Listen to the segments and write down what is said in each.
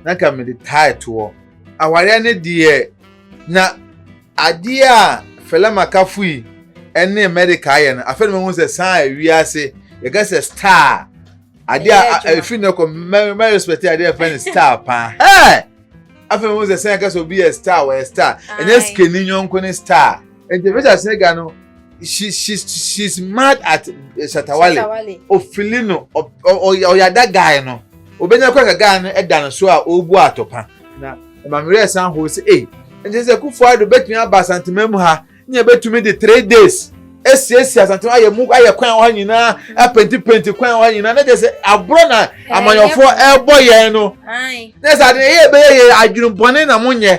na ka mede tae toɔ. Awareɛ no deɛ, na adeɛ a Fela Makafui ne America ayɛ no, afei na mahu sɛ saa a wiase, yɛka sɛ star, adeɛ a ɛfiri no kɔ, mɛ respect adeɛ a ɛfɛ no star paa. Hey! Afei mahu sɛ sɛn ɛka sɛ obi yɛ star, wɔyɛ star. Ɛnyɛ sikani nyɔnko ne star. nti visa sega no she she she's mad at eh, shatawale Shatawale. ofili no ɔ- ɔ- ɔ- ɔyada guy no obenya kɔ ka guy no ɛda no so a ɔrebu atɔpa na mamerɛ san hoo sɛ ei nti sɛ kufo ado bɛtumi aba asantema mu ha ne yɛbɛtumi de three days asiesie asantema ayɛ mu ayɛ kwan wɔ ha nyinaa apentipenti kwan wɔ ha nyinaa na kyɛ sɛ aborɔ na amanyɔfoɔ ɛrebɔ yɛn no Ae. na sɛ ade ɛyɛ ɛbɛyɛ yɛ adwene bɔne na monyɛ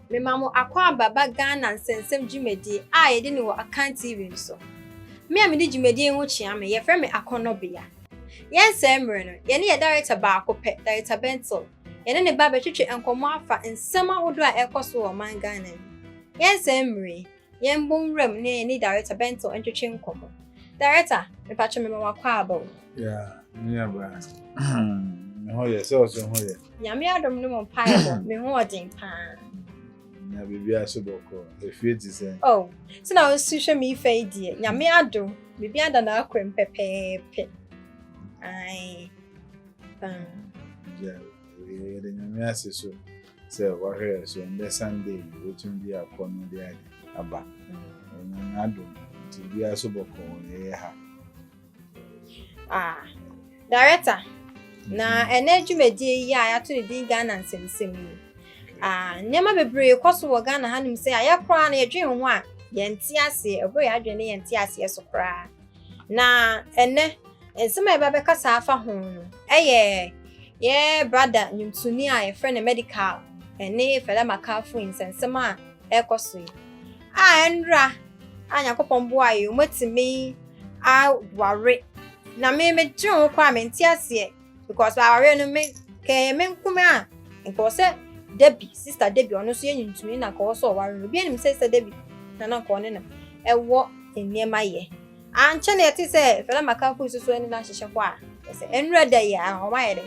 Mema mo akwaaba ba Ghana nsɛnsɛm dwumadie a yɛde no wɔ Akan TV so. Me a mede dwumadie yi ho kyea me, yɛfrɛ me Akɔnnɔbea. Yɛnsɛe mmerɛ no, yɛne yɛn Darekta baako pɛ, Darekta Bentil, yɛne ne ba bɛtwetwe nkɔmmɔ afa nsɛm ahodoɔ a ɛrekɔ so wɔ ɔman Ghana mu. Yɛnsɛe mmerɛ yi. Yɛmbɔ nwura mu na yɛne Director Bento ntwetwe nkɔmmɔ. Director, mepatwo mema wo akwaaba o. Yeah, me nuabaa. Me ho yɛ, sɛ ɔso ho yɛ. Nyame adom ne mo mpaebɔ, me ho ɔden paa. Na biribiara so bɔkɔ, efie te sɛ. Oh, sɛ na wosu hwɛ me ifa yi deɛ, Nyame adom, biribiara da n'akwam pɛpɛɛpɛ. Ae, paa. Yeah, yɛde Nyame ase so. sɛ wahwɛ yɛ so ɛndɛ sunday yi wobɛtumi de akɔ no de ade aba ɔnya mm. n'adom nti biara so bɔkɔ wɔ yɛyɛ ha ah, director mm-hmm. na ɛnɛ dwumadie yi a yɛato ne din ghana nsɛmsɛm yi ah, nneɛma bebree kɔ so wɔ ghana hanom sɛ ayɛ koraa na yɛdwen ho a yɛnte aseɛ ɛberɛ yɛ adwene ne yɛnte aseɛ so koraa Na ɛnnɛ, nsɛm a yɛbɛbɛkasa afa ho no yɛ yɛn brada nnwomtoni a yɛfrɛ no Medikal ne Fela Makafui nsɛnsɛm a ɛrekɔ so yi. A ɛnra a Nyankopɔn boa yɛ, wɔatumi aware. Na me medwene ho koraa a mente aseɛ. because awareɛ no me kɛyɛ me nkome a nka wɔ sɛ Debbie sister Debbie ɔno nso yɛnyi ntumi na nka wɔ sɛ ɔware no obi anim sɛ sister Debbie na na nka ɔne no ɛwɔ nneɛma yɛ ankyɛ na yɛte sɛ fɛlɛ maka kuru soso ɛne no ahyehyɛ hɔ a ɛsɛ ɛnura da yi a ɔma yɛ dɛ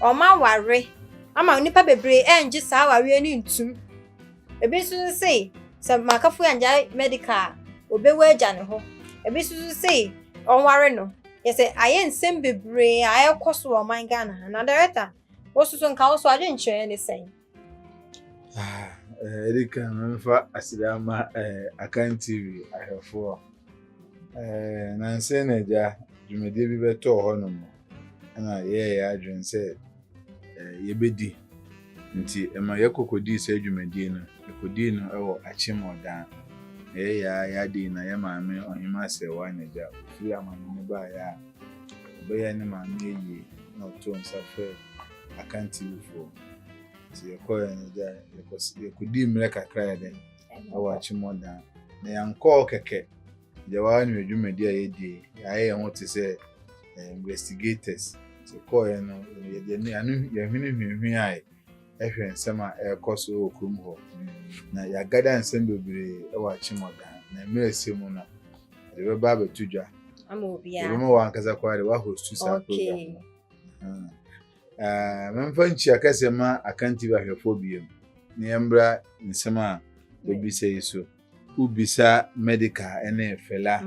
ɔma ware ama nipa bebree ɛngye saa awareɛ no ntum ebi nso se sɛ makafo angyae medical a obewu agya ne hɔ ebi nso se ɔnware no Kyerɛ sɛ ayɛ nsɛm bebree a ɛrekɔ so wɔ ɔman Ghana ha. Na director, wo soso nka wo so adwenkyerɛ ne sɛn? Ah, eh, ɛde kan memfa aseda ama eh, Akan TV ahwɛfoɔ. Eh, nansɛ na agya dwumadie bi bɛtɔɔ hɔ nom ɛna yɛyɛ yɛ adwene sɛ yɛbɛdi. Nti ɛma yɛkɔ kɔdii saa dwumadie no. Yɛkɔdii no wɔ Akyem Ɔdan. Yɛyɛ a yɛade yi na yɛ maame Ɔhema Asɛewa Anagya ɔfiri amane no baeɛ a, ɔbɛyɛɛ ne maame ayie na ɔtoo nsa frɛɛ Akan Tiwifoɔ. Nti yɛkɔɔ Anagya, yɛkɔdii mmerɛ kakra yɛ dɛ wɔ Akyem Ɔdan. Na yɛankɔɔ kɛkɛ. Deɛ waa ne dwumadi a yɛdie yɛayɛ yɛn ho te sɛ eh, investigators nti kɔɔɛ no ano yɛhwene hwinhwin ae ɛhwɛ nsɛm a ɛrekɔ so wɔ kurom hɔ na yɛagada nsɛm bebree wɔ akyemmɔdan na mmerɛ sɛ mu no yɛde bɛba abɛto dwa ɛbɛma wɔ ankasa koraa de woahostu saa program no hmm. eh, memfa nkyia kɛsɛ ma akanti bahwɛfoɔ biom na yɛmbra nsɛm a wɔbisa yi so Wo bisa medica ɛne fela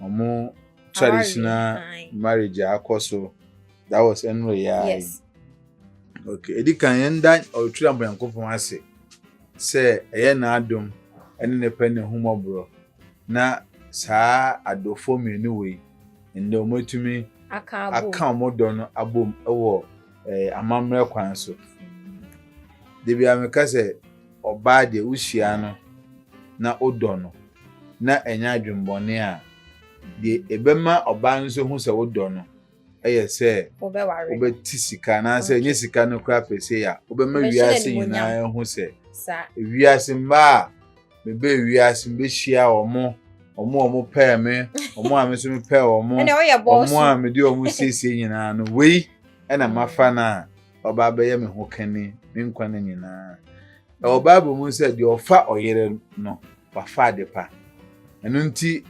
ɔmo traditional marriage a akɔ so that was ɛnure ya yi ok edi kan yɛn da ɔtwi na bɔnyankopɔn ase sɛ ɛyɛ n'adom ɛne ne pɛ ne humɔborɔ na saa adɔfoɔ mmienu wei ɛnna ɔmo atumi aka ɔmo dɔ no abom ɛwɔ ɛɛ amammerɛ kwan so debi ameka sɛ. ɔbaa deɛ wohyia no na wodɔ no na ɛnyɛ adwemmɔne a, deɛ ɛbɛma ɔbaa no nso hu sɛ wodɔ no yɛ sɛ wobɛte sika anaasɛ ɛnyɛ sika no koraa pɛ sɛ a wobɛma wiase nyinaa hu sɛ wiase mmaa a mebɛɛ wiase mbɛhyia wɔn wɔn a wɔn pɛɛ me wɔn a me nso mepɛɛ wɔn wɔn a mede wɔn siesie nyinaa no wei ɛna mafa no a ɔba abɛyɛ me ho kani me nkwa no nyinaa ɛwɔ bible mu sɛ deɛ ɔfa ɔyere no wafa ade pa ɛno nti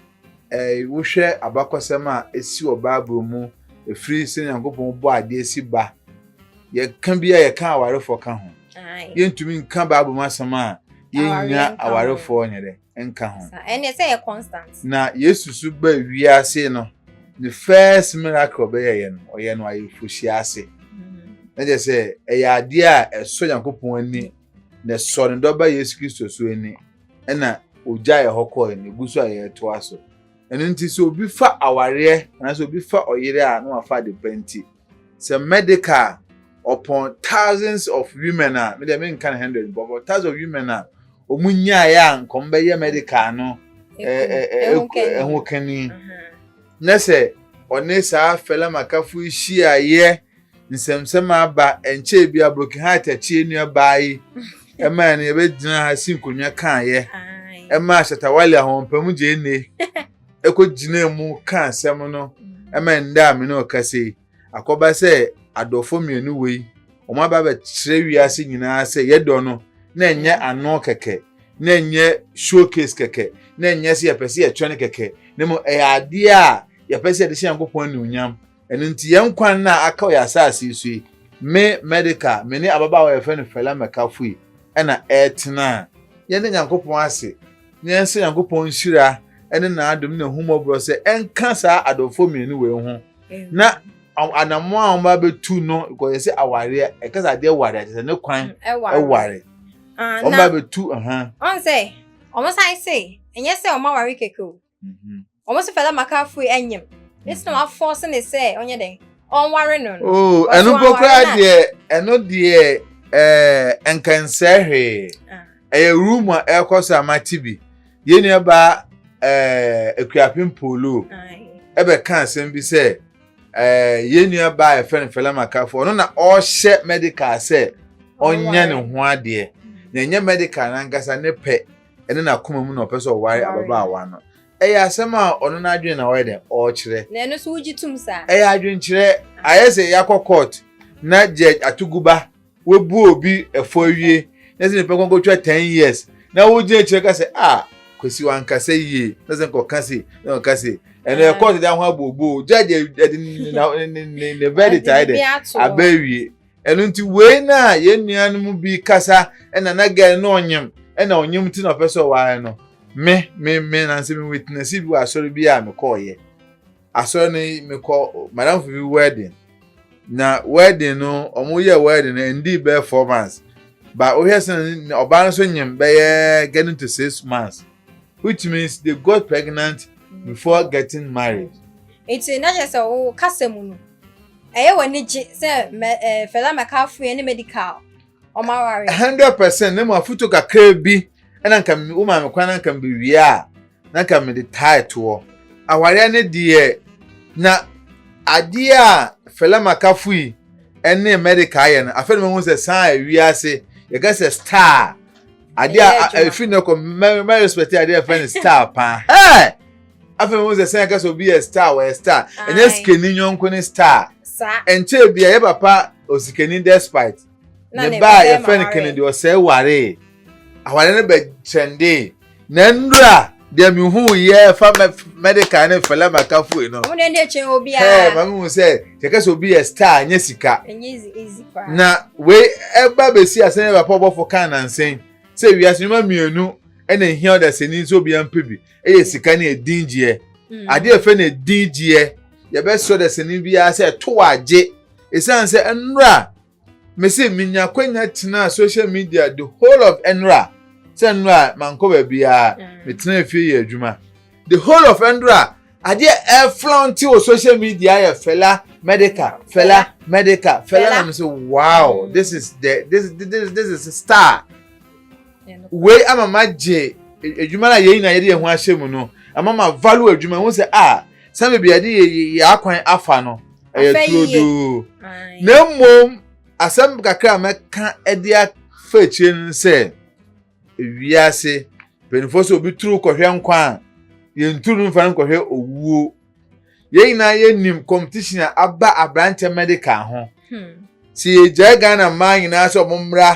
ɛɛ wohwɛ abakɔsɛm a esi wɔ bible mu efiri sɛ nyankopɔn bɔ adeɛ si ba yɛka bi a yɛka awarefoɔ ka ho yɛntumi nka bible mu asɛm a yɛnya awarefoɔ nyɛ dɛ nka ho. Ɛnneɛ sɛ yɛ constant. Na Yesu so ba wiase no, ne first miracle ɔbɛyɛ yɛ no, ɔyɛ no ayeforohyia ase. Mm-hmm. Na kyerɛ sɛ ɛyɛ adeɛ a ɛsɔ Nyankopɔn ani, na ɛsɔ ne dɔba Yesu Kristo so ani, ɛna ogya yɛ hɔ kɔɛ na egu so a yɛretoa so. Ɛno nti sɛ obi fa awareɛ anaasɛ obi fa ɔyere a na wafa ade pa nti. sɛ medical a ɔpɔn thousands of women a me deɛ me nka no hundred bɔ bɔ thousands of women a wɔn nyaayɛ a nka wɔn bɛyɛ medical no ɛho kani na sɛ ɔne saa fɛlɛ makafo hyiaeɛ nsɛmsɛm aba nkyɛn bi a broken heart akyi nua baa yi ɛmaa no yɛbɛgyina ha si nkonnwa kaayɛ ɛmaa shatawale ahoɔpam gyee ne ɛkɔgyinaa mu ka asɛm no ma ɛnda a me ne ɔkasa yi akɔba sɛ adɔfo mmienu wei wɔn aba bɛkyerɛ wiase nyinaa sɛ yɛdɔ no na ɛnyɛ ano kɛkɛ na ɛnyɛ showcase kɛkɛ na ɛnyɛ sɛ yɛpɛ sɛ yɛtwɛn kɛkɛ na mmom ɛyɛ adeɛ a yɛpɛ sɛ yɛde hyɛ nyankopɔn anuonyam Ɛno nti, yɛn nkwa nna a aka wɔ yɛn asase yi so yi, me, Medica, me ne ababaawa a yɛfrɛ no Fela Mekafui na ɛretena. Yɛda Nyankopɔn ase na yɛsrɛ Nyankopɔn nhyira ne n'adom ne n'ahummɔborɔ sɛ ɛnka saa adɔfoɔ mmienu wei ho na anammɔn a wɔba bɛtu no kɔ yɛ sɛ awareɛ ɛka sɛ adeɛ ware akyɛ sɛ ne kwan ɛware wɔba bɛtu ɔn sɛ wɔn san se ɛnyɛ sɛ wɔn aware kɛkɛ o wɔn nso fɛlɛ maka fui ɛnyim ne sɛ wɔn afɔɔse ne sɛ ɔnyɛ dɛ ɔnware no no. oo oh, ɛno mpo koraa deɛ ɛno deɛ ɛɛ eh, nkansɛ hwee ah. ɛyɛ room a ɛrekɔ so ama ti bi yɛn nua ba ɛɛ eh, ekuapem polo ɛbɛka asɛm bi sɛ ɛɛ eh, yɛn nua ba a yɛfrɛ no fɛlɛ maka fo ɔno na ɔhyɛ medical sɛ ɔnyɛ ne ho adeɛ na ɛnyɛ medical nankasa ne pɛ. ɛne n'akoma mu na ɔpɛ sɛ ɔware ababaawa no. Ɛyɛ asɛm a ɔno n'adwene na ɔyɛ dɛn ɔrekyerɛ. Na ɛno nso wogye tom saa? Ɛyɛ adwenkyerɛ. Ayɛ sɛ yɛakɔ court na judge Atuguba wabu obi fɔ awie na ɛsɛ nipa kɔn kɔtwa ten years na wogyina akyire ka sɛ ah Kwesi wankasa yie na sɛ nkɔka sei na ɔka sei. Ɛno yɛ court de ahɔ abooboo. Judge de ne verdict ayɛ dɛn aba awie. Ɛno nti wei na yɛn nua no mu bi kasa ɛna na gɛn no ɔnyem ɛna ɔnyem ti na ɔpɛ sɛ ɔware no me me me nansi me witness bi wɔ asɔre bi a mekɔɔ yɛ asɔre no mekɔ madam fo bi wedding na wedding no ɔmo yɛ wedding no ɛndi bɛyɛ four months ba wohwɛ sɛ ɔbaa no so nyem bɛyɛ getting to six months which means they got pregnant before getting married. Nti na kyerɛ sɛ wo kasa mu no. Ɛyɛ wo anigye sɛ mɛ ɛɛ eh, Fela McCarthy ne medical wɔn aware. hundred percent ne mu afuto kakra bi ɛna nka mi wo maame kwan na nka mi wie a na nka mi de taa ɛtoɔ awareɛ ne deɛ na adeɛ a Fela McCarthy ɛne medical ayɛ no afei na mo ho sɛ san ɛwi ase yɛka sɛ star adeɛ a ɛfiri ne kɔ mɛ mɛ respect adeɛ a ɛfɛ ne star paa ɛɛ. afei mo sɛ sɛn kasa obi yɛ star wɔyɛ star ɛnyɛ sikani nyɔnko ne star ɛnkyɛ bi a yɛ papa osikani despite ne ba a yɛfrɛ no kennedy ɔsɛe waree aware no bɛ kyɛnde na nnura deɛ mehu yɛ fa medical ne fɛlɛ makafo yi no ɛɛ ma mehu sɛ sɛ kasa obi yɛ star ɛnyɛ sika na wei ɛba bɛsi asɛn yɛ papa ɔbɔfo kan nansen sɛ wiase nnwuma mmienu ɛna ehia ɔdasani nso obiara mpɛ bi ɛyɛ sika ne ɛdin gyeɛ mm. adeɛ ɛfɛ ne ɛdin gyeɛ yɛbɛsɔ dɛ sɛne biara sɛ ɛto wɔ agye ɛsiane sɛ ɛnora mese menya kwanya tenaa social media the whole of ɛnora sɛ nnora mankɔ baabiara mm. metena fie yɛ adwuma the whole of ɛnora adeɛ ɛflɔnte wɔ social media yɛ fɛla medical fɛla medical fɛla na mese wow this is the this this this is star. Wei ama magye adwuma no a yɛn nyinaa yɛde yɛn ho ahyɛ mu no ama ma value adwuma ho sɛ a sɛ baabi a yɛde yɛ akwan afa no ɛyɛ turodoo na mmom asɛm kakra a mɛka de afa akyire no sɛ wiase mpanimfoɔ sɛ obi turu kɔhwɛ nkwa a yɛnturu no mfa no nkɔhwɛ owuo yɛn nyinaa yɛnim competition a aba aberanteɛ medical ho hmm. sɛ yɛgyae ghana mmaa nyinaa sɛ ɔmo mmra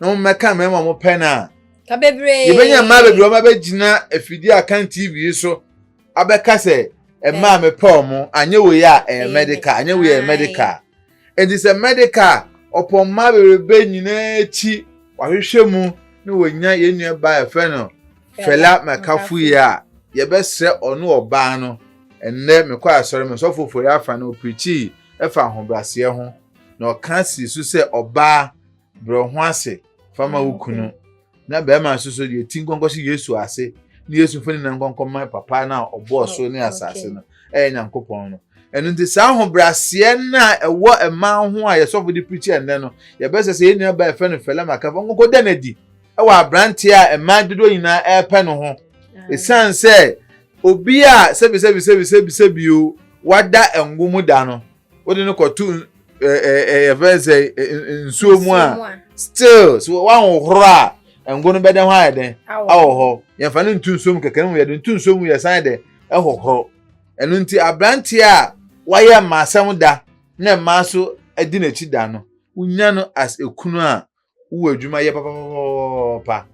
na ɔmo mmɛka mmarima ɔmo pɛ no a yɛbɛnya mmaa bebree ɔmo abɛgyina afidie a kan tv yi so abɛka sɛ mmaa mepɛ ɔmo anyɛ wei a ɛyɛ medical anyɛ wei a ɛyɛ medical Enti sɛ medical a ɔpɔmma bebrebe nyinaa akyi wahwehwɛ mu na wanya yɛn nua baa yɛfrɛ no Fela Mekafo yi a, yɛbɛsrɛ ɔne ɔbaa no. Ɛnnɛ mekɔɔ asɔre me sɔfo Ofori Afan ɔpirikyii ɛfa ahobraseɛ ho na ɔka sii so sɛ ɔbaa brɛ wo ho ase fa ma wo kunu na bɛrima nso so deɛ ti nkɔnkɔ so yesu ase ne yesu mfoni na nkɔnkɔ ma papa no a ɔbɔɔ so ne asase no ɛyɛ nyankopɔn no ɛno nti saa ahobrɛaseɛ no a ɛwɔ mmaa ho a yɛsɔfo de pirikyi ɛnnɛ no yɛbɛsɛ sɛ yɛn nua baa ɛfɛ no fɛlɛ maka fa nkɔnkɔ da no adi ɛwɔ aberanteɛ a mmaa dodoɔ nyinaa ɛrepɛ no ho ɛsiane sɛ obi a sɛbisɛbisɛbisɛbisɛbi o wada ngo mu da no wode no kɔto yɛfrɛ sɛ nsuo mu a still so woahohoro a ngo no bɛdɛ hɔ ayɛ dɛn awɔ hɔ yɛmfa no nto nsuo mu kɛkɛ no mu yɛde nto nsuo mu yɛsan dɛ ɛhohoro ɛno nti aberanteɛ a wayɛ mmaasɛm da na mmaa so di n'akyi da no wonya no as ekunu a wowɔ adwuma yɛ papapapapa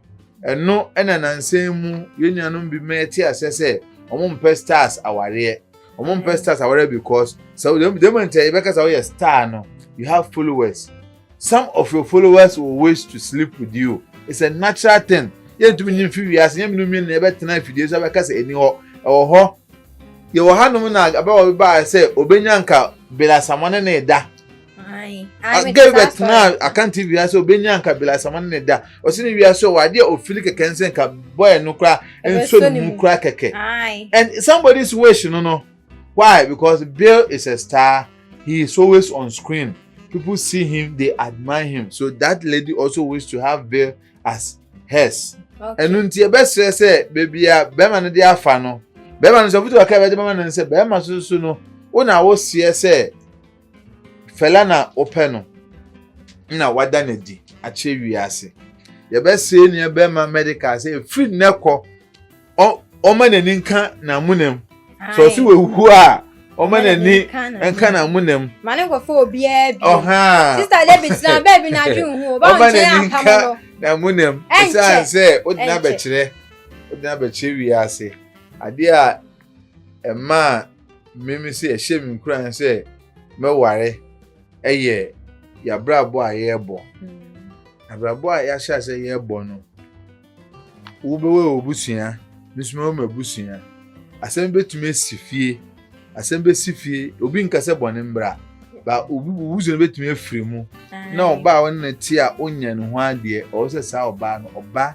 ɛno ɛna nansan mu yɛn nuanom bi mɛ te asɛ sɛ wɔn mpɛ stars awareɛ wɔn mpɛ stars awareɛ because sɛ wɔn dɛm nti a yɛbɛka sɛ wɔyɛ star no you have followers some of your followers will wish to sleep with you it's a natural thing yɛntumi nyi mfi wiase yɛn mmienu mmienu na yɛbɛtena afidie so abɛka sɛ ɛni hɔ ɛwɔ hɔ yɛwɔ hanom na abɛwɔ baa sɛ obenya nka belasamɔ ne ne da. gay bɛtena akante wiase obɛnya nka bilasama no ne da ɔsɛ ne wiase ɔwɔ adeɛ ɔfili kɛkɛ nsɛ nka bɔɛ no kora nso ne mu kora kɛkɛ and somebody is wish no no why because bill is a star he is always on screen people see him they admire him so that lady also wish to have bill as hers ɛno nti ɛbɛsrɛ sɛ baabi a bɛrima no de afa no bɛrima no sɛ ɔfutu aka ɛbɛde bɛrima no sɛ bɛrima soso no wo na woseɛ sɛ Fela na wopɛ no na wada no adi akyerɛ wiase. Yɛbɛsee nea bɛrima medical sɛ ɛfiri nnɛ kɔ ɔma n'ani nka n'amonam sɛ ɔse wawu a ɔma n'ani nka n'amonam ma ne nkɔfo obiara bi ɔha sista david na bɛɛ bi n'adwe nhu ɔba nkyɛn apam no n'amonam ɛsiane sɛ wodena bɛkyerɛ wodena bɛkyerɛ wiase adeɛ a ɛmaa mmemme sɛ ɛhyɛ me nkuran sɛ mɛware ɛyɛ yɛabrabɔ a yɛrebɔ hmm. abrabɔ a yɛahyɛ sɛ yɛrebɔ no wobɛwɔ wɔ busua nso mɛwɔ m'abusua asɛm bɛtumi asi fie asɛm bɛsi fie obi nka sɛ bɔne mbra ba obi wusu no bɛtumi afiri mu na ɔbaa a ɔne no te a ɔnya ne ho adeɛ ɔwɔ sɛ saa ɔbaa no ɔba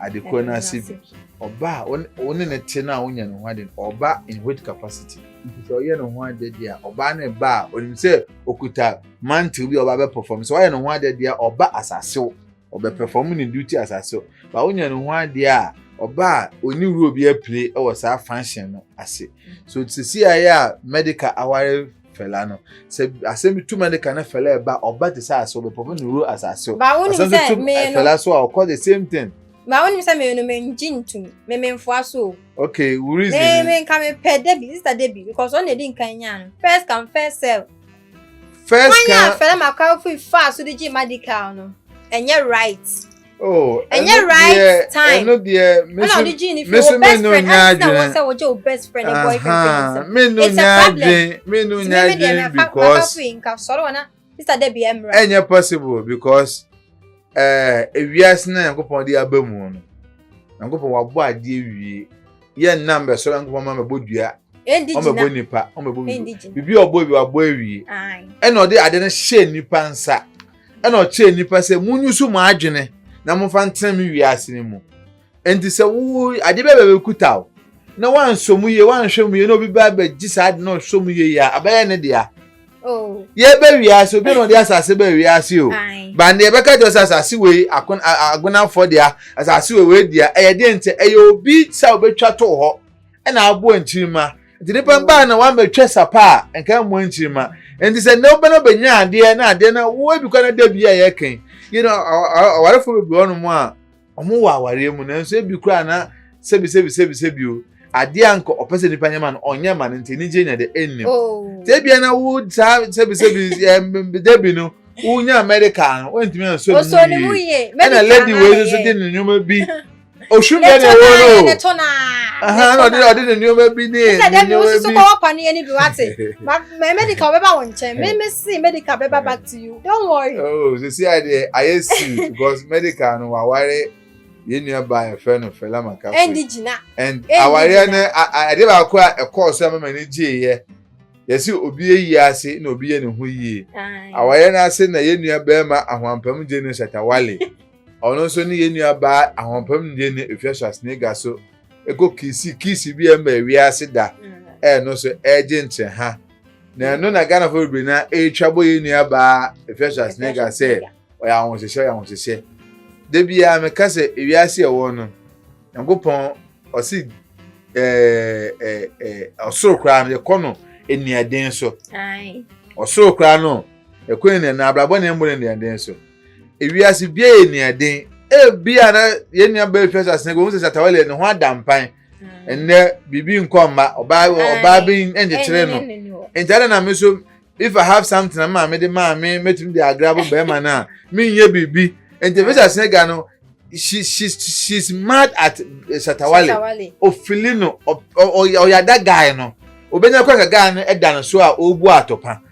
ade korɔ no ase bi. Ɔba a wo ne no te no a wonya ne ho ade no, ɔba in which capacity? Nti sɛ ɔyɛ ne ho ade deɛ a, ɔbaa no ba a, onim sɛ okuta mantle bi a ɔba bɛ perform. Sɛ ɔyɛ ne ho ade deɛ a, ɔba asasew, ɔbɛ perform ne duty asasew. Ba wonya ne ho ade a, ɔba a ɔni role bi apire wɔ saa function no ase. So sisi ayɛ a medical aware fɛla no sɛ asɛm bi tuma de ka ne fɛla ɛba ɔba te sɛ asɛ ɔbɛpɔpɔ ne wuro asase o asɛm bi tum fɛla so a ɔkɔ the same thing. baa wonim sɛ meyɛ no mengye ntum me memfoa so o okay wo reason me me nka mepɛ debi sister debi because ɔna ɛdi nkan nyaa no first come first serve first come wɔn yɛ afɛla ma kɔ afi faa so de gye medical no ɛnyɛ right. Oh, ɛnyɛ right time. Ɛno deɛ mesu mesu me no nya adwene. Ɛna ɔde gye best friend and boyfriend fɛ ne nsam. It's a problem. Me no nya adwene because. Sister Debbie Emra. Ɛnyɛ possible because ɛɛ eh, ewiase na Nyankopɔn de aba mu no. Nyankopɔn wabɔ adeɛ wie. Yɛ nnam bɛ sɔrɔ Nyankopɔn ma bɛbɔ dua. Ɔmo bɛbɔ nipa. Ɔmo bɛbɔ bibi. Bibi ɔbɔ bi wabɔ awie. Ɛna ɔde ade no hyɛ nipa nsa. ɛna ɔkyerɛ nnipa sɛ munyusu mo adwene na momfa ntena me wiase no mu. Enti sɛ wo ade bɛba bɛkuta wo na woansɔ mu yie, woanhwɛ mu yie na obi ba bɛgye saa ade na ɔsɔ mu yie a, abɛyɛ ne dea. Oh. Yɛba wiase, obi na ɔde asase ba wiase o. Ba ne yɛbɛka kyerɛ sɛ asase wei agonafoɔ dea, asase wei wei dea. Ɛyɛ deɛ nti, ɛyɛ obi sɛ ɔbɛtwa too hɔ. ɛna aboa nkyirimma nti nipa mm. baa na wamɛtwa sapa a nka mmoa nkyirimma nti sɛ nnɛ wobɛna bɛnya adeɛ na adeɛ na woabi kɔ na da bi a yɛkɛn yi no awarefo bebree hɔ nom a wɔn wɔ awareɛ mu nanso ebi koraa na sɛbi sɛbi sɛbi sɛbi o adeɛ a nka ɔpɛ sɛ nipa nyɛ ma no ɔnyɛ ma no nti ne nkyɛn nya de ɛnnim oh. sɛ ebia na wo saa sɛbi sɛbi ɛɛ dabi no wonya medical no wɔntumi anso ne mu yie ɛna lady wei nso de ne nneɛma bi ohwim bɛ na ɛwɔ no ne to na ɛna ɔde ɔde ne nneɛma bi ne ne nneɛma bi sɛ wosusu kɔ wɔpa no yɛ ne bi wate mɛ medical bɛba wɔn nkyɛn mɛ mɛ si medical bɛba back to you don't worry. oh sisi adeɛ ayɛ si because medical no waware yɛn nua ba yɛfrɛ no fɛlɛ maka fɛ ɛndi gyina and awareɛ no adeɛ baako a ɛkɔɔ so ɛma m'ani gye yɛ yɛsi obi yɛ yie ase na obi yɛ ne ho yie awareɛ no ase na yɛn nua bɛrima ahoampam gye no shatawale. ɔno nso ne yɛn nua baa ahoɔpam nniyɛ ne efia Schwarzenegger so ɛkɔ kiisi kiisi bi a ɛma wiase da ɛno so ɛregye nkyɛn ha na ɛno na Ghana fo bebree na ɛretwa bɔ yɛn nua baa efia Schwarzenegger sɛ ɔyɛ ahohyehyɛ ɔyɛ ahohyehyɛ da biara meka sɛ wiase ɛwɔ no nyankopɔn ɔsi ɛɛ ɛɛ ɔsoro koraa no yɛkɔ no nnuaden so ɔsoro koraa no ɛkɔ nnuaden na abrabɔ ne ɛmmɔ ne nnuaden so. ewiase bia yɛ nea den ebia na yɛn nua bɛyɛ hwɛ sase ko sɛ satawa lɛ ne ho ada mpan mm. ɛnɛ biribi nkɔ mma ɔbaa ɔbaa bi nkyekyere no nti ada na me so if i have something na maame de maame mɛtumi de agra bo bɛrima no a menyɛ biribi nti ebi sase ne ga no she she she's mad at eh, satawale ofili no ɔyada guy no obenya kɔ ka guy no ɛda no so a ɔbu atɔpa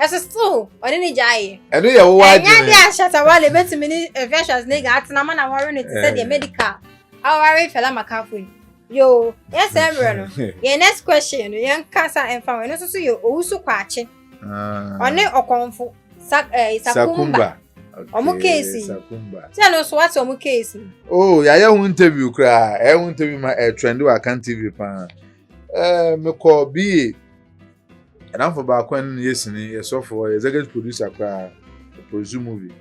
ɛso still ɔne ne gya yɛ. ɛno yɛ wowɔ adwene. ɛnyɛ de ahyɛ tawale betumi ne infectious ne ga atena ma na wɔre no te sɛ deɛ eh. medical awɔre fɛla makafo yi yoo yɛ sɛ mmerɛ no yɛn next question no yɛn kasa ɛnfa wɔn ɛno nso so yɛ owusu kwaakye ah. ɔne ɔkɔnfo sa ɛɛ eh, sakumba ɔmo keesi sɛ ɛno nso wate ɔmo keesi. oo oh, yɛayɛ ho interview koraa ɛyɛ ho interview ma ɛɛ eh, trend wɔ akan tv paa ɛɛ mekɔ bie. Ɛnamfo baako a ne yɛ sini yɛ sɔfo ɔyɛ executive producer koraa produce movie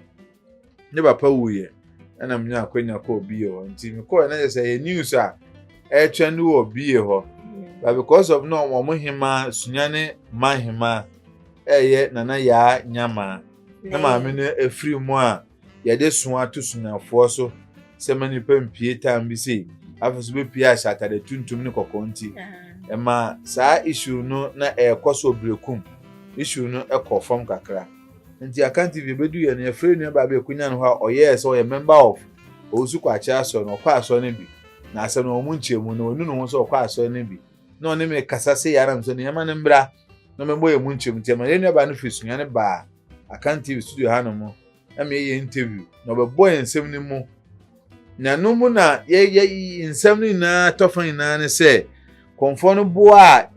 ne papa wuyɛ ɛna mu nya akwanya kɔɔ bie hɔ nti mekɔɔ ɛna yɛ sɛ yɛ news a ɛretwɛn no wɔ bie hɔ but because of no wɔn hema sunya ne ma hema ɛyɛ nana yaa nyama ne maame no efiri mu a. yɛde so ato sunafoɔ so sɛ ma nipa mpie tam bi sei afei so bɛpie ahyɛ atade tuntum ne kɔkɔɔ nti ɛma saa issue no na ɛrekɔ so ɔberekum issue no ɛkɔ fam kakra nti Akan TV bɛdu yɛ no yɛfrɛ nua baa bi akunya no hɔ a ɔyɛɛ sɛ ɔyɛ member of ɔwusu kɔ akyɛ asɔre no ɔkɔ asɔre no bi na asɛm no wɔn nkyɛn mu no wɔnu ne ho sɛ ɔkɔ asɔre no bi na ɔne me kasa sɛ yɛ anam sɛ nneɛma no mmra na mɛbɔ yɛn mu nkyɛm nti ɛma yɛn nuabaa no firi sunyane baa akan tv studio hanom ɛma yɛyɛ interview na ɔbɛbɔ yɛn nsɛm no mu na ɛno mu na yɛyɛ nsɛm no nyinaa tɔfa nyinaa ne sɛ kɔnfoɔ no boa a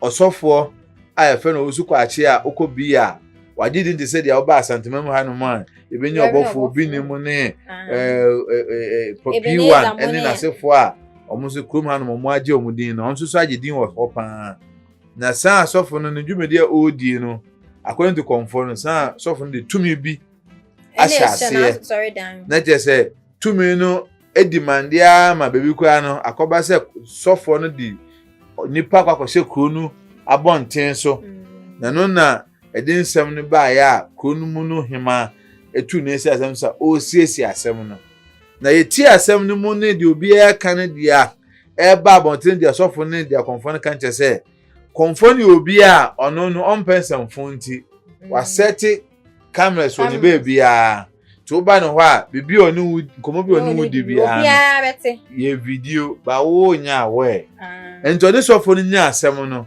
ɔsɔfoɔ a yɛfrɛ no ɔwusu kwakye a ɔkɔ bi a wagye din te sɛ deɛ ɔba asantema mu hanom a yɛbɛnya ɔbɔfoɔ bi ne mu ne pɔpii wa ne n'asefoɔ a wɔn nso kurom hanom wɔn agye wɔn din na wɔn nso so agye din wɔ hɔ paa. Na saa asɔfo no ne dwumadi a ɔredie no according to kɔmfoɔ no saa asɔfo no de tumi bi ahyɛ aseɛ na kyerɛ sɛ tumi no edi mande ara ma baabi koraa no akɔba sɛ sɔfoɔ no de nipa akɔ akɔhyɛ kuro no abɔnten so mm. na no na ɛde nsɛm no baeɛ a kuro no mu no hema etu ne nsa asɛm sa ɔresiesie asɛm no na yɛtie asɛm no mu ne deɛ obiara ka no deɛ a ɛreba abɔnten de asɔfo ne diakonfo no ka no kyerɛ sɛ kɔnfo ne obi a ɔno no ɔmpɛ nsɛmfo nti mm. wasɛte cameras wɔ ne baabiara nti woba ne hɔ a biribi a ɔne wo nkɔmmɔ bi a ɔne wo di biara no yɛ video ba wonya awɛ ah. nti ɔne sɔfo no nya asɛm no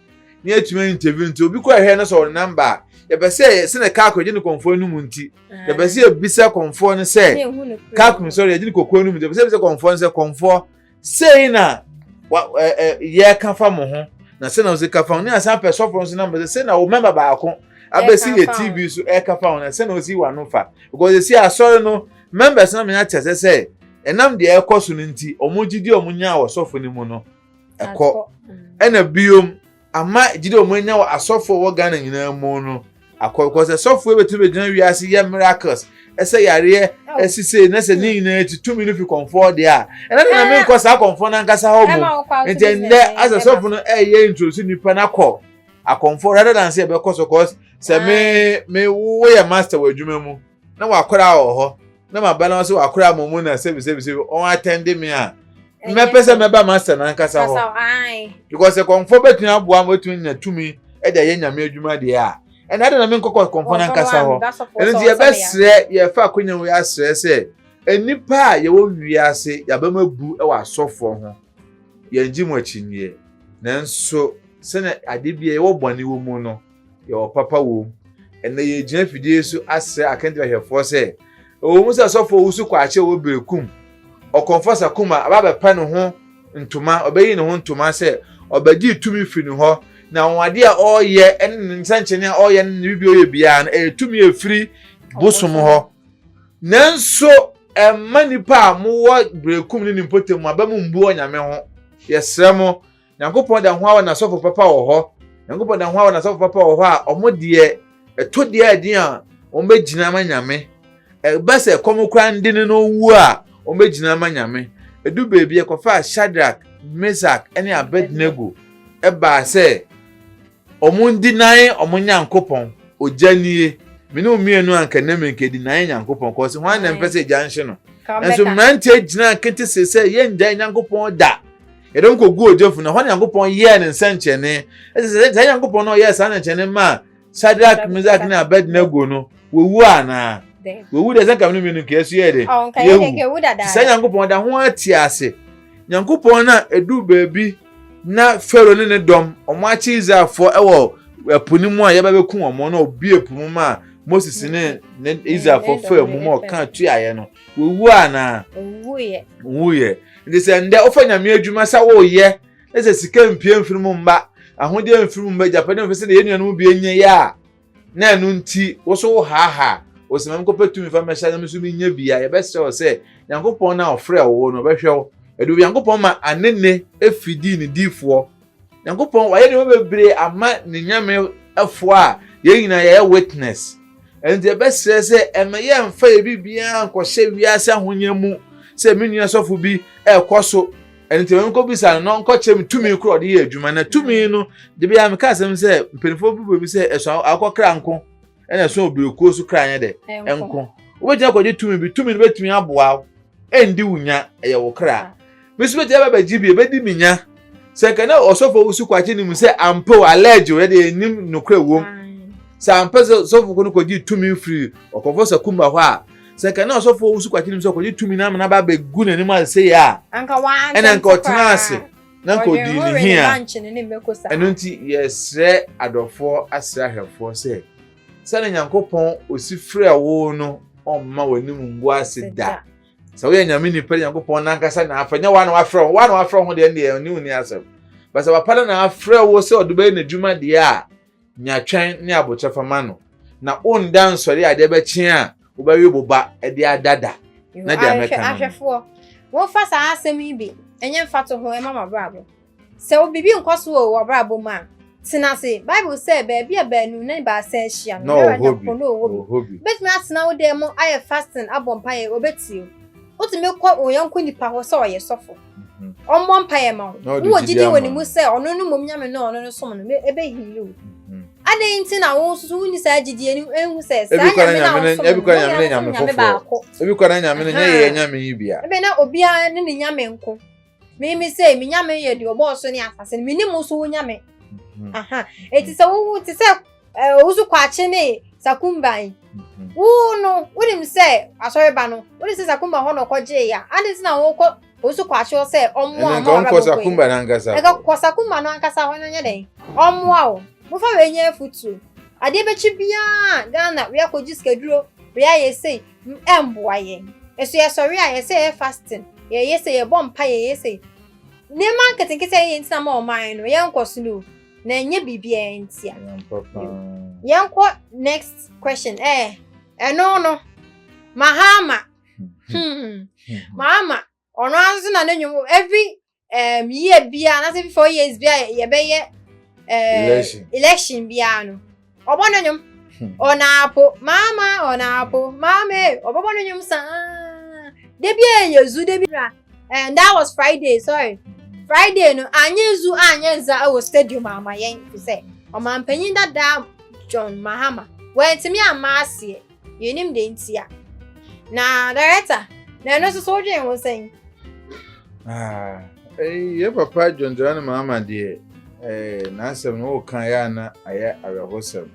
ne atumi interview nti obi kɔ ɛhɛ no sɛ ɔno namba a yɛpɛ sɛ yɛsɛ na kaa kɔgye ne kɔnfoɔ no mu nti yɛpɛ sɛ yɛbisa kɔnfoɔ no sɛ kaa kɔn sɔre yɛgye ne kɔkɔɔ no mu nti yɛpɛ sɛ yɛbisa kɔnfoɔ no sɛ kɔnfoɔ sei na yɛka fa mo ho na sɛ na ɔsɛ ka fa ho ne asan pɛ sɔfo no so namba sɛ sɛ na wo mɛma baako abɛsi yɛ tv so ɛka fa ho na sɛ na ɔsi wa no fa because ɛsi asɔre no members na menya kyɛ sɛ sɛ ɛnam deɛ ɛkɔ so no nti wɔn gyidi wɔn nya wɔ sɔfo no mu no ɛkɔ ɛna biom ama gyidi wɔn anya wɔ asɔfo a wɔwɔ ghana nyinaa mu no akɔ because asɔfo ebetumi begyina wiase yɛ miracles ɛsɛ yareɛ ɛsise oh. na sɛ ne nyinaa ti tumi no fi kɔnfɔɔ deɛ a ɛna na eh. mi nkɔ saa kɔnfɔɔ nankasa hɔ mu nti ndɛ asɛ sɔfo no ɛyɛ eh, nturusi nipa n'akɔ akɔnfɔɔ rather than sɛ ɛbɛkɔ so cause sɛ me me woyɛ master wɔ adwuma mu. na wakora wɔ hɔ na ma ba no nso wakora mo mu na sɛbi sɛbi sɛbi ɔn atɛnde mi a mmɛpɛ sɛ mɛba ma sɛ n'ankasa hɔ because kɔnfɔ bɛtumi aboa mo bɛtumi nya tumi ɛde ayɛ nyame adwuma deɛ a ɛna ɛde na me nkɔkɔ kɔnfɔ n'ankasa hɔ ɛno nti yɛbɛsrɛ yɛfa akonya wei asrɛ sɛ nnipa a yɛwɔ wiase yɛabɛm abu wɔ asɔfoɔ ho yɛngye mu akyinnyeɛ nanso sɛnea ade bi a yɛwɔ bɔne wɔ mu no yɛwɔ papa wom. Ɛnna yɛgyina afidie so asrɛ akandirahwɛfoɔ sɛ, ɛwɔ mu sɛ asɔfoɔ wusu kɔ akyɛ wɔ berekum, ɔkɔmfɔ sakuma aba bɛpɛ ne ho ntoma, ɔbɛyi ne ho ntoma sɛ ɔbɛgye tumi firi ne hɔ, na anwanwadeɛ a ɔreyɛ ne ne nsɛnkyerɛnne a ɔreyɛ ne ne biribi ɔyɛ biara no, ɛyɛ tumi a ɛfiri bosom hɔ. Nanso ɛmma nnipa a mowɔ berekum ne ne mpɔtam aba mu mbu ɔnyame ho. Yɛsrɛ mo. Nyankopɔn da ho ara wɔ n'asɔfo papa wɔ hɔ. Nyankopɔn da ho ara wɔ n'asɔfo papa wɔ hɔ a wɔn deɛ ɛtɔ deɛ ɛden a wɔn bɛgyina ama Nyame. Ɛba sɛ ɛkɔm koraa nde ne no ɔwu a wɔn bɛgyina ama Nyame. Ɛdu baabi ɛkɔfaa Shadrach, Mesach ne Abednego ɛbaa sɛ Ɔmo ndi nae ɔmo Nyankopɔn. Ogya nie, me ne wo mmienu anka nnɛ menkedi nae Nyankopɔn kɔ ɔse hwan na mpɛ sɛ gya nhye no? Nanso mmeranteɛ gyinaa ketesee sɛ yɛngyae Nyankopɔn da, yɛde ɔmo kɔguu ogya funu, ɛhɔ na Nyankopɔn yɛɛ ne nsɛnkyerɛnne, ɛsɛ sɛ saa Nyankopɔn no a ɔyɛɛ saa nsɛnkyerɛnne maa Shadrach, Mesach ne Abednego no wɔwu anaa? Wɔwu deɛ sɛ nka me ne mmienu nka yɛso yɛyɛ dɛ, yɛwu, saa Nyankopɔn da ho ara te ase, Nyankopɔn no a ɛduu baabi Na Farao ne ne dɔm, wɔakye Israelfoɔ wɔ ɛpo no mu a yɛba bɛku wɔn na ɔbue po mu maa Moses ne ne Israelfoɔ faa mu ma ɔkaa tuaeɛ no. Wɔwuo anaa? Wɔwuiɛ. Wɔwuiɛ. Nti sɛ ndɛ wofa nyame adwuma sɛ woyɛ na sɛ sika mpie mfiri mu mma, ahodeɛ mfiri mu mma, agyapadeɛ mfiri sɛdeɛ yɛn nuanom bi anya yɛ a, na ɛno nti wo nso wohaahaa wo sɛ mɛmkɔpɛ tumi fa mɛhyɛ na me nso menyɛ bi a, yɛbɛsrɛ wo sɛ Nyankopɔn no a ɔfrɛɛ wo no ɔbɛhwɛ wo. Ɛde Onyankopɔn ma Anene efi dii ne difoɔ. Nyankopɔn wayɛ nneɛma bebree ama ne Nyamefoɔ a yɛn nyinaa yɛyɛ witness. Ɛno nti yɛbɛsrɛ sɛ ɛmɛ yɛmfa yɛn biribiara nkɔhyɛ wiase ahonya mu sɛ me nua sɔfo bi ɛrekɔ so ɛno nti wɔn kɔbisa no na ɔnkɔkyerɛ me tumi korɔ ɔde yɛ adwuma na tumi no de bi a meka asɛm sɛ mpanimfoɔ bi bɔ bi sɛ ɛso akɔ kra nko ɛna ɛso obirikuo so kra nyɛ dɛ nko wobɛtumi akɔgye tumi bi tumi no bɛtumi aboa wo ɛndi wo nya ɛyɛ wo kra me nso bɛtumi abɛgye bi ɛbɛdi me nya sɛ nka na ɔsɔfo wusu kwakye ne mu sɛ ampa o allergy o yɛde yɛnim nokorɛ wom sɛ ampa sɛ ɔsɔfo ko no kɔgye tumi firi ɔkɔfo sakumba hɔ a Sɛ nka na ɔsɔfo ɔwusu kwati nim sɛ ɔkɔgye tumi na amena ba abɛgu n'anim ase sei a ɛna nka ɔtena ase na nka ɔdii ne hi a ɛno nti yɛsrɛ adɔfoɔ asrɛ ahwɛfoɔ sɛ sɛne nyankopɔn ɔsi frɛ wo no ɔmma w'anim ngu ase da sɛ woyɛ nyame nipa de nyankopɔn nankasa na afrɛ nyɛ woa na wafrɛ wo woa na wafrɛ wo ho deɛ ɛndeɛ ɔne wo ni asɛm ba sɛ wapa no na afrɛ wo sɛ ɔde bɛyɛ n'adwuma deɛ a Nya twɛn ne aboterɛfa ma no, na wonda nsɔre a ɛde bɛkye a wobɛwe wo ba de ada da. Na deɛ mɛka no. Ahwɛfoɔ, wɔmfa saa asɛm yi bi nyɛ mfatoho mma mo abrabɔ. Sɛ wo biribi nkɔ so wɔ w'abrabɔ mu a, tena ase. Bible sɛ, Baabi a baanu ne baasa ahyia no, Yehowa Nyankopɔn na ɔwɔ bi. Wobɛtumi atena wo dan mu ayɛ fasting abɔ mpaeɛ, ɔbɛtie wo. Wotumi kɔ wo yɔnko nipa hɔ sɛ ɔyɛ sɔfo. ɔmmɔ mpaeɛ ma wo wowɔ gyidi wɔ ne mu sɛ ɔno no mmom nyame no ɔno no som no ɛbɛhili wo adɛn nti na wo nso so wonni saa gyidie no ɛhu sɛ saa nyame no awosomnyame baako ebi kɔ na nyame no nyɛ yɛ nyame yi bia ɛbɛ na obiara ne ne nyame nko meme sɛ me nyame yɛ deɛ ɔbɔɔ so ne asase no menim wo so wo nyame aha ɛti sɛ wowo te sɛ owusu kwakye ne sakumba yi mhm. wo no wonim sɛ asɔreba no wonim sɛ sakumba hɔ na ɔkɔgyee yɛ a ade nti na wokɔ owusu kwakye hɔ sɛ ɔmmoa ɔma ɔrabɛkɔ kɔ sakumba no ankasa ɛka kɔ sakumba no ankasa hɔ no nyɛ dɛn ɔmmoa wo mofa wei nyɛ afutuo adeɛ bɛkyi biara ghana wei akɔgye sikaduro wei ayɛ sei ɛmboa yɛn ɛso yɛsɔre a yɛsɛ yɛ fasting yɛyɛ sɛ yɛbɔ mpa yɛyɛ sɛ nneɛma nketenkete a yɛyɛ ntina ma ɔman no yɛnkɔ so no na ɛnyɛ biribiara ntia yɛnkɔ next question ɛɛ eh, ɛno no mahama hmm. mahama ɔno ara nso na ne nwom every um, year biara na sɛ every four years biara yɛbɛyɛ uh, election biara no ɔbɔ no nwom ɔnaapo maama ɔnaapo maama e ɔbɛbɔ no nwom saa da bi a yɛ zu da bi ra and that was friday sorry friday no anyɛ zu anyɛ nza wɔ stadium ama yɛn fi sɛ ɔmanpanyin dada john mahama wɔntumi ama aseɛ Yenim de ntia. Na director, na ɛno nso so wodwen ho sɛn? Ah, eh, yɛ papa dwondwona no maama deɛ eh, n'asɛm no woka yɛ a na ayɛ awerɛhosɛm.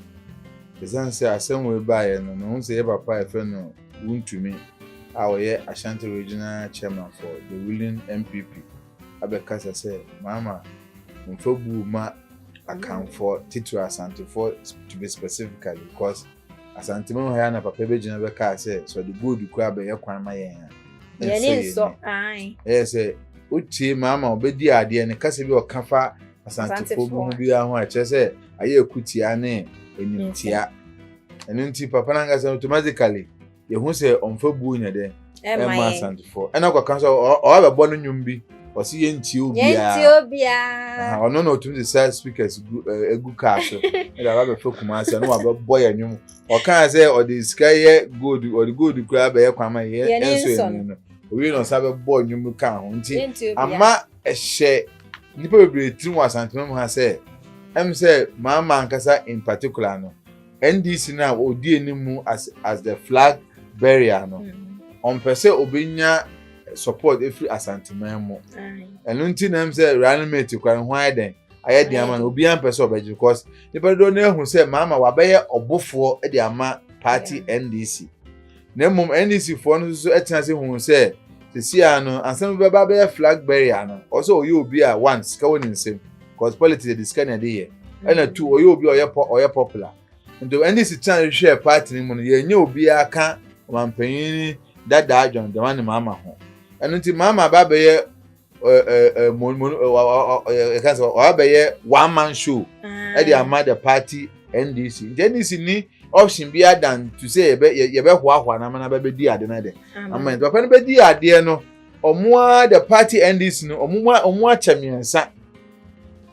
Ɛsiane sɛ asɛm wei baeɛ no, mehu sɛ yɛ papa a ɛfɛ no wontumi a ɔyɛ Ashanti Regional Chairman for the Ruling MPP abɛkasa sɛ maama mfa buo ma Akanfoɔ titiri Asantefoɔ to be specifically because Asanteman ha na papa bɛgyina bɛkaa sɛ sɛ ɔde gold kura bɛyɛ kwan ma yɛn a ɛnsɔ nsɔ ɛyɛ sɛ wotie maa ma ɔbɛdi adeɛ no kasa bi ɔka fa asantefoɔ bi ho biara ho a kyerɛ sɛ ayɛ akutia ne animtia ɛno nti papa no ankasa automatically yɛhu sɛ ɔmfa buo nya dɛ ɛma asantefoɔ ɛna kɔka sɛ ɔabɛbɔ no nnwom bi ɔsi yɛ nti obiara ɔno na ɔtumi sisa speakers egu kaa so ɛna ɔba bɛfɛ kuma ase ɛna wabɛbɔ yɛ nnwom ɔkaa sɛ ɔde sika yɛ gold ɔde gold koraa bɛyɛ kwan ma yɛ ɛnso yɛ nnwom no owie na ɔsan bɛbɔ nnwom kaa ho nti ama ɛhyɛ nnipa bebree tirim wɔ asantuma mu ha sɛ ɛm sɛ maa maa nkasa in particular no. NDC no a ɔdi anim mu as as the flag bearer no mm-hmm. ɔmpɛ sɛ ɔbɛnya support ɛfiri asanteman mu ɛno nti na m sɛ running mate kora ne ho ayɛ dɛn ayɛ den ama no obiara mpɛ sɛ ɔbɛgye because nipa dodoɔ no ahu sɛ maama wabɛyɛ ɔbofoɔ de ama party NDC. na mmom NDCfoɔ no nso tena ase huu sɛ sisi a no ansa bi bɛba bɛyɛ flag bearer no ɔsɛ ɔyɛ obi a one sika wɔ ne nsam cause politics yɛde sika na ɛde yɛ ɛna two ɔyɛ obi a ɔyɛ pɔ ɔyɛ popular nti NDC tena hwehwɛ party no mu no yɛnyɛ obiara ka ɔmampanyin dadaa John Dramani Mahama ho ɛno nti Mahama ba bɛyɛ wabɛyɛ one man show ɛde ah. ama the party ndc nti ndc ni option bi adan to say yɛbɛ yɛbɛ hoahoa na ama na bɛbɛ di ade na dɛ ama nti papa no bɛ di adeɛ no ɔmo a the party ndc no ɔmo mu ɔmo akyɛ mmiɛnsa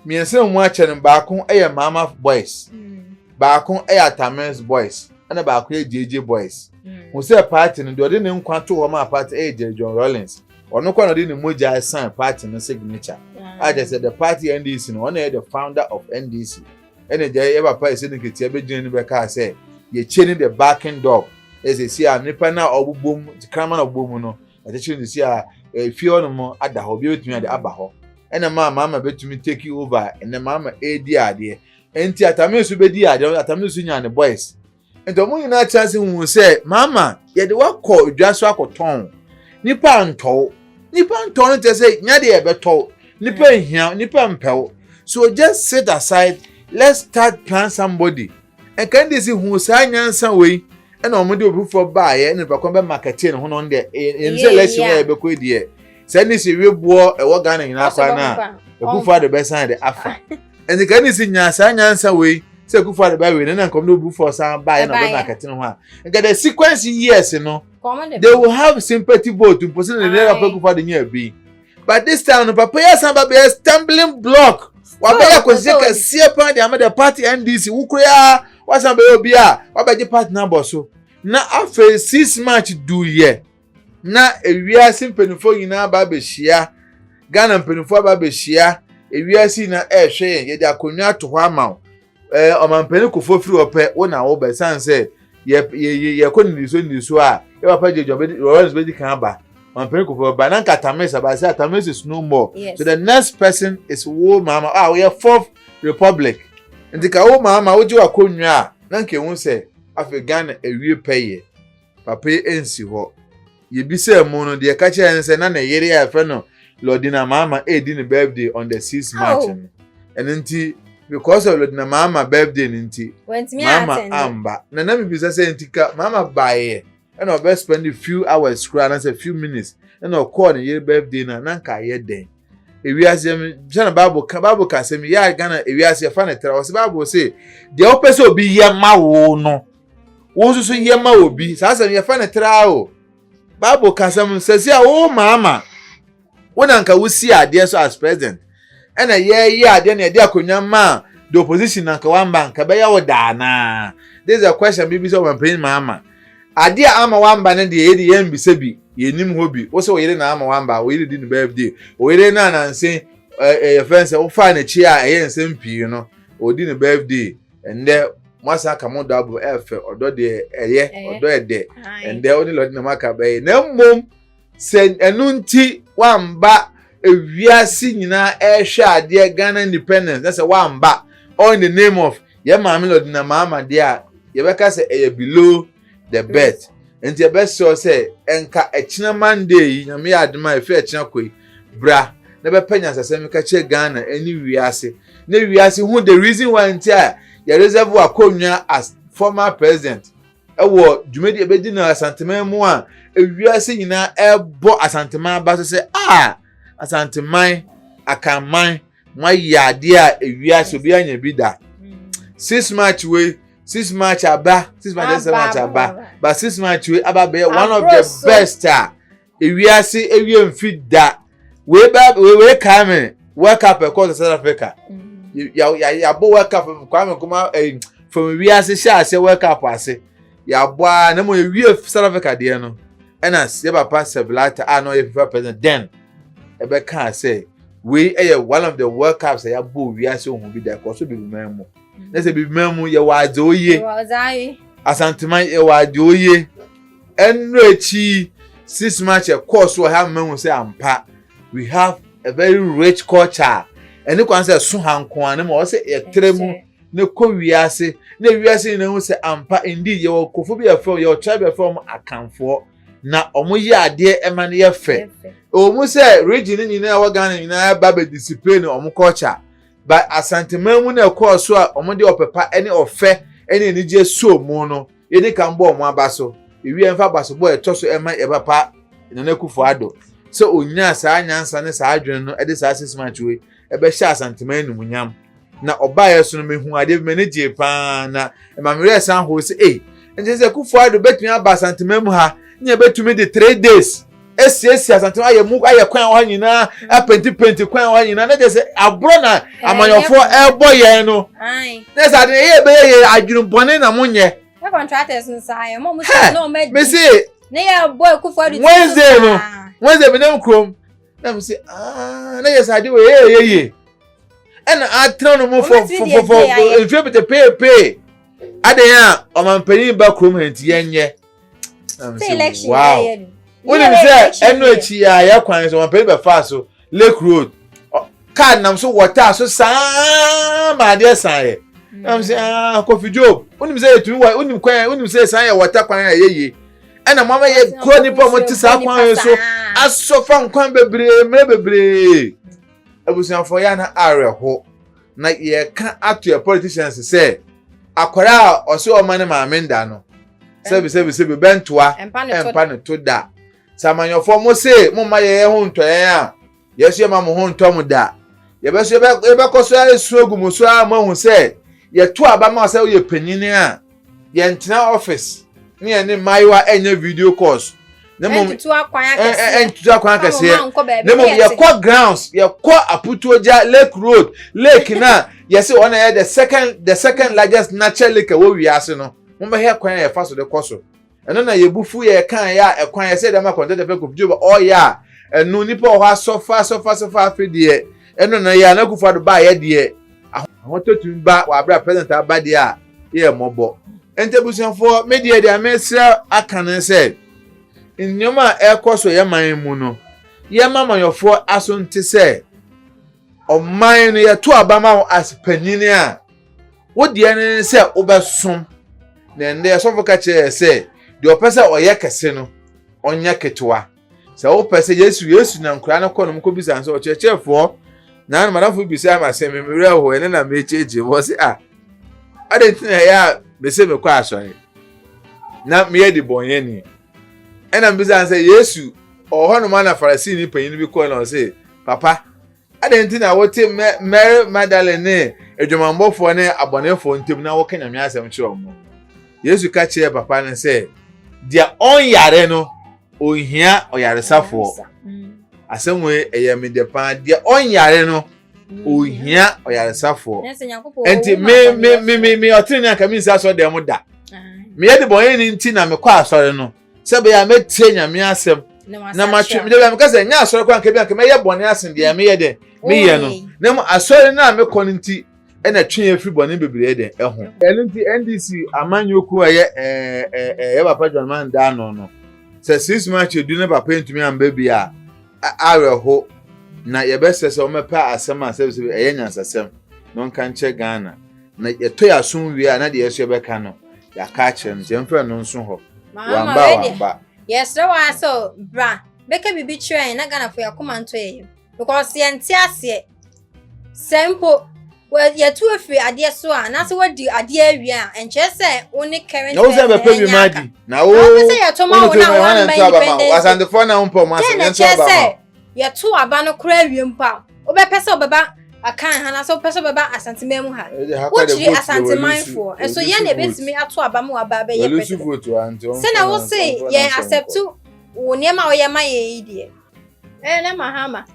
mmiɛnsa na ɔmo akyɛ no baako ɛyɛ maama boys hmm. baako ɛyɛ atamins boys ɛna baako yɛ gyegye boys mo hmm. sɛ party no deɛ ɔde ne nkwa to hɔ ma party ɛyɛ gyegye john rollins. ɔno kɔ na ɔde ne mogya ɛsan party no signature a kyerɛ sɛ the party ndc no ɔno yɛ the founder of ndc ɛna gya yɛ papa ɛsɛ ne nketewa bɛgyina ne bɛkaa sɛ yɛkyɛ ne the backing dog ɛsɛ si a nipa no a ɔbobɔ mu krama na ɔbobɔ mu no ɛkyekyere ne si a efie hɔ nom ada hɔ obi bɛtumi ade aba hɔ ɛna maa maama bɛtumi take over ɛna maama ɛredi adeɛ ɛnti atame nso bɛdi adeɛ atame nso nya ne boys nti wɔn nyinaa te ase hu sɛ maama yɛde wakɔ dwa so akɔtɔn nipa ntɔw nipa ntɔw no kyerɛ sɛ nya deɛ ɛbɛtɔw nipa mm. nhia nipa mpɛw so just sit aside let's start plan somebody ɛka de si hu saa nyansa wei ɛna wɔn de obi foforɔ baayɛ ɛna nipa kɔn bɛ marketing ho na wɔn deɛ ɛyɛm sɛ lɛsi wɔn yɛ bɛkɔ deɛ sɛ ne si wiboɔ ɛwɔ ghana nyinaa kwan na ekufu adi bɛsan de afa. ɛnti ka ne si nyaa saa nyansa wei sɛ akufo ade bɛwe no na nkɔm de obu fɔ san baeɛ na ɔbɛma akɛtene ho a nka the sequence years no they will have sympathy vote mpo sɛ ne ne papa akufo ade nyɛ abi but this time no papa yi asan ba bɛyɛ stumbling block wabɛyɛ akɔsisɛ kɛseɛ paa de ama the party ndc wo koraa wasan bɛyɛ obi a wabɛgye party no abɔ so na afei six march duyɛ na ewiase mpanimfoɔ nyinaa aba abɛhyia ghana mpanimfoɔ aba abɛhyia ewiase nyinaa ɛrehwɛ yɛn yɛde akonnwa ato hɔ ama wo ɛɛ eh, ɔmampanin kofoɔ firi hɔ pɛ wo na wo bɛ san sɛ yɛ yɛ yɛ yɛkɔ nnidiso nnidiso a yɛ papa gye dwa bɛdi lawrence bɛdi kan aba ɔmampanin kofoɔ bɛba na nka tamis aba sɛ tamis is no more yes. so the next person is wo maama a ah, woyɛ fourth republic nti ka wo maama wogye wakonnwa a na nka ehu sɛ afei ghana ewie pɛ yɛ. Papa yi ansi hɔ. Yebisaa mu no, deɛ ɛka kyerɛɛ no sɛ na ne yere a yɛfrɛ no Lordina Maama redi ne birthday on the 6 March oh. no. Ɛno nti, because of Lordina Maama birthday no nti, Maama amba. Na na mebisa sɛ nti ka Maama baeɛ ɛna ɔbɛ spend a few hours koraa anaasɛ few minutes ɛna ɔkɔɔ ne yere birthday na na nka ayɛ dɛn ewiase yɛn bisa na baabu ka baabu ka asɛm yɛ a ghana ewiase yɛfa ne tra ɔsɛ baabu se deɛ ɔpɛ sɛ obi yɛ ma wo no. wo nso so yɛ ma obi saa asɛm yɛfa no traa o bible ka asɛm sɛsi a wo maama wo na nka wosi adeɛ so as president ɛna yɛyɛ adeɛ na yɛde akonnwa maa the opposition na nka wamba nka bɛyɛ wo daa naa this is a question bibi sɛ ɔmampanyin maama adeɛ a ama wamba no deɛ yɛde yɛn bisa bi yɛnim hɔ bi wo sɛ ɔyere na ama wamba ɔyere di ne birthday ɔyere no ananse ɛyɛ fɛn sɛ wofaa n'akyi a ɛyɛ nsɛm pii no ɔdi ne birthday ɛndɛ mo asan aka mo dɔ abom ɛfɛ ɔdɔ deɛ ɛyɛ ɔdɔ ɛdɛ ɛndɛ ɔne lɔde na mo aka bɛyɛ na mmom sɛ ɛno nti wamba ewiase nyinaa ɛrehwɛ adeɛ ghana independence na sɛ wamba all in the name of yɛ maame lɔde na maama deɛ a yɛbɛka sɛ ɛyɛ below the birth nti ɛbɛsrɛ sɛ ɛnka ɛkyena monday yi nyame yɛ adema a ɛfiri ɛkyena kɔ yi bra na bɛpɛ nyansasɛm ka kyerɛ ghana ɛne wiase na wiase hu the reason why nti a yɛ reserve akonnwa as former president ɛwɔ dwumadi ɛbɛdi na asanteman mu a ewiase nyinaa ɛbɔ asanteman aba so sɛ a asanteman akanman moayɛ adeɛ a ewiase obi anya bi da six march wei six march aba six march ɛsɛ march aba but six march wei aba bɛyɛ one of the best a ewiase ewie nfi da wei ba wei wei kaa mi world cup ɛkɔ south africa mm-hmm. yabɔ world cup kwame nkrumah ɛyi eh, fam wiase hyɛ ase world cup ase yɛabɔ ara na mmom yɛwie South Africa deɛ no ɛna yɛ papa Sir Blatter a na ɔyɛ FIFA president then ɛbɛkaa sɛ wei ɛyɛ one of the World Cups a yɛabɔ wiase ohun bi da ɛkɔ so bibiman mu mm. na sɛ bibiman mu yɛwɔ adze oye asanteman yɛwɔ adze oye ɛnura akyi six match ɛkɔɔ so ɔha mmahu sɛ ampa we have a very rich culture ɛne kwan sɛ ɛso ha nko ara na ma ɔsɛ yɛtrɛ mu. na kɔ wiase na wiase nyinaa hu sɛ ampa indeed yɛwɔ nkurɔfoɔ bi a yɛfrɛ wɔn yɛwɔ tribe bi a yɛfrɛ wɔn akanfoɔ na wɔyɛ adeɛ ɛma no yɛ fɛ ɛwɔ mu sɛ region no nyinaa ɛwɔ Ghana nyinaa ba bɛ display no wɔn culture ba asanteman mu na ɛkɔɔ so a wɔn de ɔpɛpa ne ɔfɛ ne anigyeɛ suo mu no yɛdi kan bɔ wɔn aba so ewie ɛmfa aba so bɔ ɛtɔ so ɛma yɛ papa Nana Akufo-Addo sɛ onyaa saa nyansa ne saa adwene no ɛde saa six months wei ɛbɛhyɛ Asantema animuonyam. Na ɔbaeɛ so no mehu adeɛ bi m'ani gyee paa na ɛma me werɛ san hoo sɛ ei ɛnkyɛ sɛ Kufu Addo bɛtumi aba Asantema mu ha ne yɛbɛtumi de three days asiesie Asantema ayɛ mu ayɛ kwan wɔ ha nyinaa apentipenti kwan wɔ ha nyinaa na kyɛ sɛ aborɔ na amanyɔfoɔ ɛrebɔ yɛn no na sɛ ade ɛyɛ ɛbɛyɛ yɛ adwene bɔne na monyɛ contractors no saa yɛ mɔ mo sɛ na ɔmɛ di mesi Wednesday no Wednesday bi ne nkurom na mi se aa na yɛ sɛ ade wɔ yɛ yɛ yie ɛna atena no mu fɔ fɔ fɔ mfie pete peepee ade yɛn a ɔmanpanyin ba kurom ha nti yɛn nyɛ na mi se wow wonim sɛ ɛnu akyi a yɛ kwan so ɔmanpanyin bɛ fa so lake road kaa nam so wɔtaa so saa ma adeɛ san yɛ nam sɛ ah kofi job wonim sɛ yɛtumi wɔ wonim kwan wonim sɛ san yɛ wɔta kwan a ɛyɛ yie ɛna mo ama yɛ kɔ nipa mo te saa kwan yɛ so asɔfa nkwan bebree mmerɛ bebree abusuafo yɛ na awerɛho na yɛka ato yɛ politicians sɛ akwara a ɔsɛ ɔma ne maame nda no sɛbi sɛbi sɛbi bɛntoa ɛmpa ne to da sɛ amanyɔfoɔ mo se mo ma yɛ yɛ ho ntɔyɛn a Yesu yɛ ma mo ho ntɔ mo da. Yɛbɛ so yɛbɛ yɛbɛkɔ so esu egu mo so a mo ehu sɛ yɛto aba ma sɛ woyɛ panyin a yɛntena office ne yɛn ne mmaayewa ɛnyɛ video calls ne mo ɛntutu akwan akɛseɛ ɛntutu akwan akɛseɛ ne mo yɛkɔ grounds yɛkɔ aputuogya lake road lake na yɛsi wɔn na yɛ the second the second largest natural lake ɛwɔ wiase no mo bɛhɛ kwan a yɛfa so de kɔ so. Ɛno na yɛn bo fuw yɛn kae a ɛkwan yɛn sɛ yɛde ama kɔntɛtɛ fɛ kofi Joba ɔɔyɛ a ɛno nipa wɔ hɔ asɔfa asɔfa asɔfa afe deɛ ɛno na yɛ a na Akufo Addo baayɛ deɛ ahotɔ tumi ba wɔ abere a president aba deɛ a yɛ yɛ mmɔbɔ nti abusuafoɔ me deɛ deɛ mesrɛ aka ne sɛ nneɛma a ɛkɔ so yɛ man mu no yɛ ma amanyɔfoɔ aso nte sɛ ɔman no yɛto aba ma wɔ as panyin a Wo deɛ no ne sɛ wobɛsom, na ɛnnɛ sɔfo ka kyerɛ yɛ sɛ deɛ ɔpɛ sɛ ɔyɛ kɛse no, ɔnyɛ ketewa. Sɛ wopɛ sɛ Yesu Yesu na nkora no kɔ nom kɔbisa no sɛ ɔkyerɛkyerɛfoɔ, na no madamfo bisa ama sɛ me mmerɛ hɔ ɛne na mekyerɛkyerɛ mu ɔse a adɛn nti na ɛyɛ a mese mekɔ asɔre na meyɛ de bɔnyɛni ɛna mbisa sɛ Yesu ɔwɔ hɔ nom ana Farisini panyin bi kɔɔ na ɔse papa Adɛn nti na wote Mary Magdalene ne adwamammɔfoɔ ne abɔnefoɔ ntam na woka Nyame asɛm kyerɛ wɔn? Yesu ka kyerɛɛ papa no sɛ, Deɛ ɔnyare no, ɔnhia ɔyaresafoɔ. Asɛm wei ɛyɛ me dɛ paa. Deɛ ɔnyare no, ɔnhia ɔyaresafoɔ. Nti me me me me me ɔtene ne anka mensi asɔre dɛm da. Meyɛ de bɔnyɛ ni nti na mekɔ asɔre no. sɛ bɛyɛ a mɛtie nyame asɛm na matwe mede bia meka sɛ ɛnyɛ asɔre kɔ anka bi anka mɛyɛ bɔne asen deɛ meyɛ dɛ meyɛ no na mu asɔre no a mekɔ no nti ɛna twe afiri bɔne bebree dɛ ɛho ɛno nti ndc amanyɔkuo a ɛyɛ ɛyɛ papa john man daa no no sɛ six march edu ne papa ntumi amba bi a awerɛho na yɛbɛsɛ sɛ wɔmɛpɛ asɛm a sɛbisɛbi ɛyɛ nyansasɛm na ɔnka nkyɛ ghana Na yɛtɔ yɛn asom wie a na deɛ ɛsɛ yɛbɛka no yɛaka akyerɛ no nti yɛmfrɛ no nso hɔ wamba a wamba. yɛsrɛ wɔ sɛ bra bɛka biribi kyerɛ yɛn na Ghanafoɔ yɛakoma ntɔ yɛn yam because yɛnte aseɛ sɛ mpo yɛtu afiri adeɛ so a na sɛ wadi adeɛ awie a ɛnkyerɛ sɛ wo ne current na wo sɛ bɛpɛ bi ma adi na wo sɛ yɛtɔ ma wo na wo ama independence asantefo na wo mpɔ ma sɛ yɛn nso aba ma yɛto aba no koraa wie mpo a wobɛpɛ sɛ wobɛba akan ha anaasɛ wopɛ sɛ wobɛba asanteman mu ha wokyiri asantemanfoɔ nso yɛn na ɛbɛtumi ato aba ma waba abɛyɛ president sɛnea wo se yɛn accept wo nneɛma a woyɛ ma yɛn yi deɛ ɛyɛ na mahama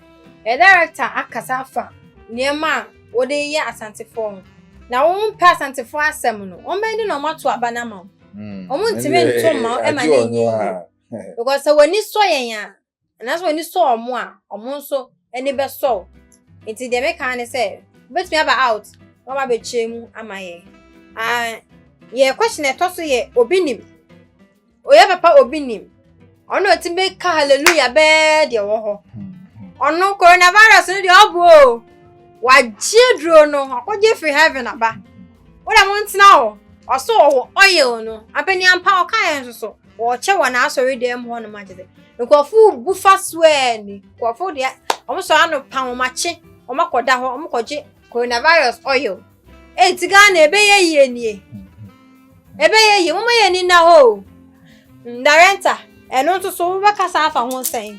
yɛ director akasa afa nneɛma a wode yɛ asantefoɔ ho na wɔn mpɛ asantefoɔ asɛm no wɔn bɛn de na wɔn ato aba no ama wɔn wɔn ntumi nto mma ɛma ne nyɛ yie because sɛ wɔn ani sɔ yɛn a Anaasɛ w'ani sɔ wɔn a, wɔn nso ani bɛsɔ wo. Nti deɛ meka ne sɛ, wobɛtumi aba out na waba abɛkyerɛ mu ama yɛn. Ah, yɛ question ɛtɔ so yɛ obi nim. Oyɛ papa obi nim. Ɔno ɔtumi bɛka hallelujah bɛɛ deɛ wɔ hɔ. Ɔno coronavirus no deɛ ɔbo o. Wagye aduro no, ɔkɔgye firi heaven aba. Wodɛ mo ntena hɔ, ɔso ɔwɔ oil no. Ampani ampa ɔka yɛn nso so. wɔkyɛ wɔ n'asɔredan mu hɔnom agye dɛ nkurɔfo bu fa so aa ni nkurɔfo deɛ wɔn sɔrɔ ano pa wɔn akye wɔn akɔda hɔ wɔn kɔgye coronavirus oil ee ti ghana ɛbɛyɛ yie nie ɛbɛyɛ yie wɔn yɛ ni na hɔ o ndarɛnta ɛno nso so wobɛkasa afa ho sɛn.